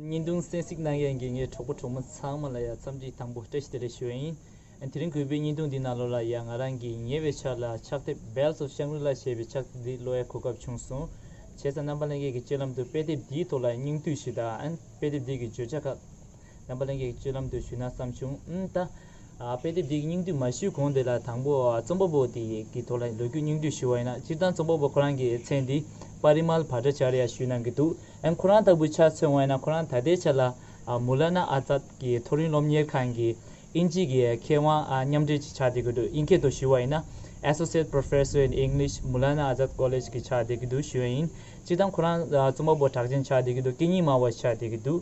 ཉིན་དུང་སེང་གཟིགས་གནང་ཡས་འགས་ངའི་གྲོགས་པོ་གྲོགས་མོ་ཚང་མ་ལ་ཡང་འཚམས་འདྲི་དང་པོ་བཀྲ་ཤིས་བདེ་ལེགས་ཞུ་བ་ཡིན། དེ་རིང་གུས་པས་ཉིན་དུང་འདི་ནང་ལོ་ལ་ཡང་ང་རང་གི་ཉེ་བའི་ཆར་ལ་ཕྱག་དེབ Bells of Shangri-La ཞེས་པའི་ཕྱག་དེབ་འདི་ཀློག་ཡ་གོ་སྐབས་བྱུང་སོང། བྱས་ཙང་རྣམ་པ་ལྷན་རྒྱས་ཀྱི་སྤྱོད་ལམ་དུ་དཔེ་དེབ་འདིའི་ཐོག་ལ་སྙིང་བསྡུས་ཞིག་དང་དཔེ་དེབ་འདི་གི་བརྗོད་བྱ་ཁག་རྣམ་པ་གླིང་གི་སྤྱོད་ལམ་དུ་ཞུས་ན་བསམ་བྱུང། ཨུན་ཏ། དཔེ་དེབ་འདི་སྙིང་བསྡུས་མ་ཞུས་གོང་དེ་ལ་དང་པོ་རྩོམ་པ་པོ་དེ་ཡི་ཐོག་ལ་ལོ་རྒྱུས་སྙིང་བསྡུས་ཞུ་བ་ཡིན་ན་སྤྱིར་བཏང་རྩོམ་པ་པོ་ཁོ་རང་གིས་ཚེ་འདི་པ་རི་མལ་བྷ་ཏྲ་ཅཱར་ཡ་ཞུས་གནང་གི་འདུག་ཨན་ཁོ་རང་ལྟ་བུའི་ཆ་མཚོན་དབང་ཡིན་ན་ཁོ་རང་ད་ལྟའི་ཆ་ལ་མུ་ལ་ན་ཨ་ཙཱད་ཀྱི་མཐོ་རིམ་སློབ་གཉེར་ཁང་གི་དབྱིན་ཇིའི་གི་མཁས་དབང་མཉམ་འབྲེལ་གྱི་ཆགས་བསྡད་གི་འདུག་དབྱིན་སྐད་དུ་ཞུས་བ་ཡིན་ན Associate Professor in English Mulla Na Azad College གི་ཆགས་བསྡད་གི་འདུག་ཞུས་ཡིན་སྤྱིར་བཏང་ཁོ་རང་རྩོམ་པ་པོ་གྲགས་ཅན་ཆགས་བསྡད་གི་འདུག་སྐད་གཉིས་སྨྲ་བ་ཞིག་ཆགས་བསྡད་གི་འདུག།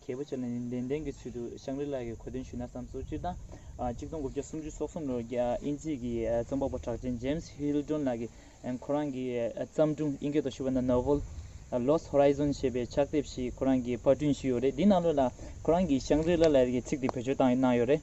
མཁས་པ་ཆེ་ལ་ནི་ལན་ལྡན་གྱི་ཚུལ་དུ་ཤངས་རི་ལགས་ཀྱིས་གོ་དོན་ཞུས་ན་བསམ་སོང་སྤྱིར་བཏང་གཅིག་སྟོང་དགུ་བརྒྱ་སུམ་ཅུ་སོ་གསུམ་ལོར་དབྱིན་ཇིའི་གི་རྩོམ་པ་པོ་གྲགས་ཅན James Hildon ལགས་ཀྱིས་ཁོ་རང་གི་བརྩམས་སྒྲུང་དབྱིན་སྐད་དུ་ཞུ་བ་ན Novel Lost Horizon ཞེས་པའི་ཕྱག་དེབ་ཞིག་ཁོ་རང་གིས་པར་སྐྲུན་ཞུས་ཡོད་རེད་དེའི་ནང་ལོ་ལ་ཁོ་རང་གིས་ཤངས་རི་ལ་ལར་ཡི་ཚིག་དེ་བེད་སྤྱོད་གནང་ཡོད་རེད།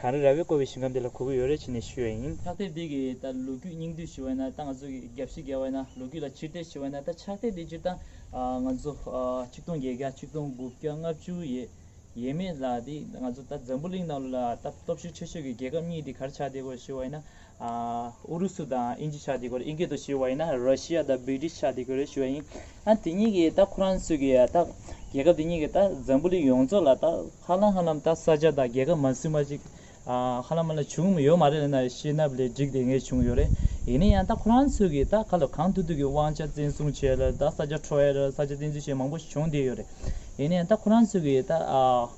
གངས་རི་ར་བས་བསྐོར་བའི་ཞིང་ཁམས་འདི་ལ་གོ་གི་ཡོད་རེ་ཆེ་ནས་ཞུས་བ་ཡིན། ཕྱག་སྟེགས་འདི་གི་ད་ལོ་རྒྱུས་སྙིང་བསྡུས་ཞུ་བས་ན་ད་ང་ཚོ་གི་རྒྱ་བཞི་བརྒལ་བས་ན་ལོ་རྒྱུས་ལ་ཕྱིར་བལྟས་ཞུ་བས་ན་ད་ཕྱག་སྟེགས་འདི་སྤྱིར་བཏང་ང་ཚོ་ཆིག་སྟོང་བརྒྱད་བརྒྱ་ཆིག་སྟོང་དགུ་བརྒྱ་ལྔ་བཅུ་ཡས་ཡས་མས་ལ་དེ་ང་ཚོ་ད་འཛམ་བུ་གླིང་ནང་ལོ་ལ་ད་སྟོབས་ཤུགས་ཆེ་ཤོས་ཀྱི་རྒྱལ་ཁབ་གཉིས་དེ་གར་ཕྱག་སྟེགས་སྐོར་ཞུ་བ་ཡིན་ན་ཨུ་རུ་སུ་དང་དབྱིན་ཇི་ཆགས་འདི་གོ་རེད་དབྱིན་སྐད་དུ་ཞུས་བ་ཡིན་ན་རོ་ཤི་ཡ་དང་བི་ཏྲི་ཤ་འདི་གོ་རེད་ཞུས་བ་ཡིན། ཨ་དེ་གཉིས་ཀྱིས་ད་ཁོ་རང་ཚོས་ཀྱི་ད་རྒྱལ་ཁབ་དེ་གཉིས་ཀྱིས་ད་འཛམ་བུ་གླིང་ཡོངས་རྫོགས་ལ་ད་ཧ་ལམ་ཧ་ལམ་ད་ས་ཆ་དང་རྒྱལ་ཁབ་མ་སུས་མ་ཅིག་ཧ་ལམ་མ་ལ་བྱུང་མི་ཡོད་མ་རེད་ལེ་ན་ཤེས་ནབས་ལས་འགྲིག་དེ་ངས་བྱུང་ཡོད་རེད་ཡིན་ན་ཡང་ད་ཁོ་རང་ཚོས་ཀྱིས་ད་ག་ལ་གང་ཐུབ་ཐུབ་ཀྱི་དབང་ཆ་བཙན་བཟུང་བྱས་ལ་ད་ས་ཆ་ཁྲོ་ཡ་རུ་ས་ཆ་བཙན་འཛུལ་བྱས་མང་པོ་བྱུང་བསྡད་ཡོད་རེད་ཡིན་ན་ཡང་ད་ཁོ་རང་ཚོས་ཀྱིས་ད་ཨ།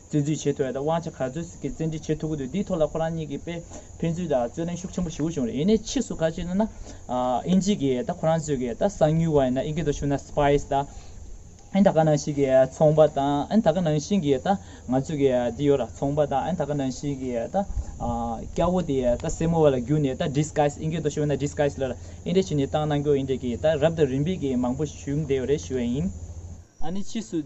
བཙན་འཛུལ་བྱེད་ཐུབ་པ་དང་དབང་ཆ་ག་ཚོད་ཟིག་གིས་བཙན་འཁྲིད་བྱེད་ཐུབ་ཀྱི་འདུག་འདིའི་ཐོག་ལ་ཁོ་རང་གཉིས་ཀྱིས་དཔེ་ཕན་ཚུན་དང་རྩོད་གླེང་ཤུགས་ཆེན་པོ་བྱེད་དགོས་བྱུང་རེད་ཡིན་ནའི་ཕྱིས་སུ་ཁ་ཅིག་ནས་ན། ཨིན་ཇིས་ཀྱིས་ད་ཁོ་རང་ཚོས་ཀྱིས་ད་གསང་ཉུལ་བ་ཡིན་ན་ཨིན་སྐད་དུ་ཞུ་ན Spies ད། ཨིན་ད་ག་ནང་བཞིན་གྱིས་ཚོང་པ་ད་ཨིན་ད་ག་ནང་བཞིན་གྱིས་ད་ང་ཚོས་ཀྱིས་འདི་ཡོད་ལ་ཚོང་པ་ད་ཨིན་ད་ག་ནང་བཞིན་གྱིས་ད། སྐྱ་བོ་དེ་ད་སེར་མོ་བ་ལ་བརྒྱུགས་ནས་ད Disguise ཨིན་སྐད་དུ་ཞུ་ན Disguise ལ་ཨིན་འདྲེ་བྱས་ནས་བཏང་གནང་རྒྱུ་ཡིན་འདྲེ་གྱིས་ད་རབ་དང་རིམ་པས་ཀྱིས་མང་པོ་བྱུང་བསྡད་ཡོད་རེད་ཞུ་བ་ཡིན། ཨ་ནི་ཕྱིས་སུ།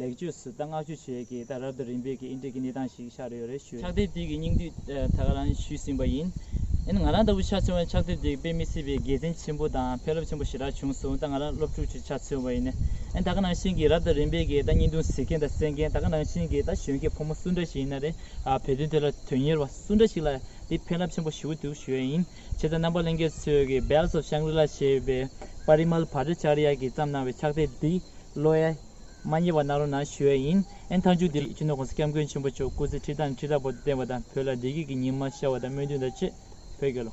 ལེགས་བཅོས་སུ་ད་བསྔགས་བརྗོད་བྱེད་ཀྱི་ད་རབ་ཏུ་རིམ་པས་ཀྱི་ཨིན་ཏྲེ་ཀི་གནས་སྟངས་ཤིག་ཤར་ཡོད་རེད་ཞུ། ཕྱག་དེབ་དེ་གི་སྙིང་བསྡུས་ད་ག་རང་ཞུས་ཟིན་པ་ཡིན། ཡིན་ང་རང་ལྟ་བུ་ཆ་ཚང་བས་ཕྱག་དེབ་དེ་གི་དཔེ་མི་སྲིད་པའི་དགེ་མཚན་ཆེན་པོ་དང་ཕན་རླབས་ཆེན་པོ་ཞེ་དྲག་བྱུང་སོང་ད་ང་རང་སློབ་ཕྲུག་ཆུ་ཆ་ཚང་བ་ཡིན། ད་ག་ནང་བཞིན་གྱི་རབ་ཏུ་རིམ་པས་ཀྱི་ད་སྙིང་དུང་ཟེར་མཁན་དང་གསན་མཁན་ད་ག་ནང་བཞིན་གྱི་ད་གཞོན་སྐྱེས་ཕོ་མོ་སུ་འདྲ་ཞིག་ཡིན་ན་རེད་བོད་དོན་དེ་ལ་དོན་གཉེར་བ་སུ་འདྲ་ཞིག་ལ་དེ་ཕན་རླབས་ཆེན་པོ་ཞུ་གི་འདུག་ཞུ་ཡ་ཡིན། ཆེ་བཙན་རྣམ་པ་གླིང་གེ་སོས་ཀྱི Bells of Shangri-La ཞེས་པའི Parimal Bhattacharya གྱིས་བརྩམས་གནང་བའི་ཕྱག་དཔེ་འདི་བློ་ཡ། མ་ཉེས་པ་གནང་རོགས་གནང་ཞུ་ཡ་ཡིན། ཨན་ཐང་ཆུ་འདི་ཆུ་ནོར་ཀུང་སི་སྐྱབས་མགོན་ཆེན་པོ་མཆོག་སྐུ་ཚེ་ཁྲི་དང་ཁྲི་དྲག་པོ་བརྟན་པ་དང་བོད་ལ་བདེ་སྐྱིད་ཀྱི་ཉི་མ་ཤར་བ་དང་སྨོན་འདུན་དང་བཅས་བོད་རྒྱལ་ལོ།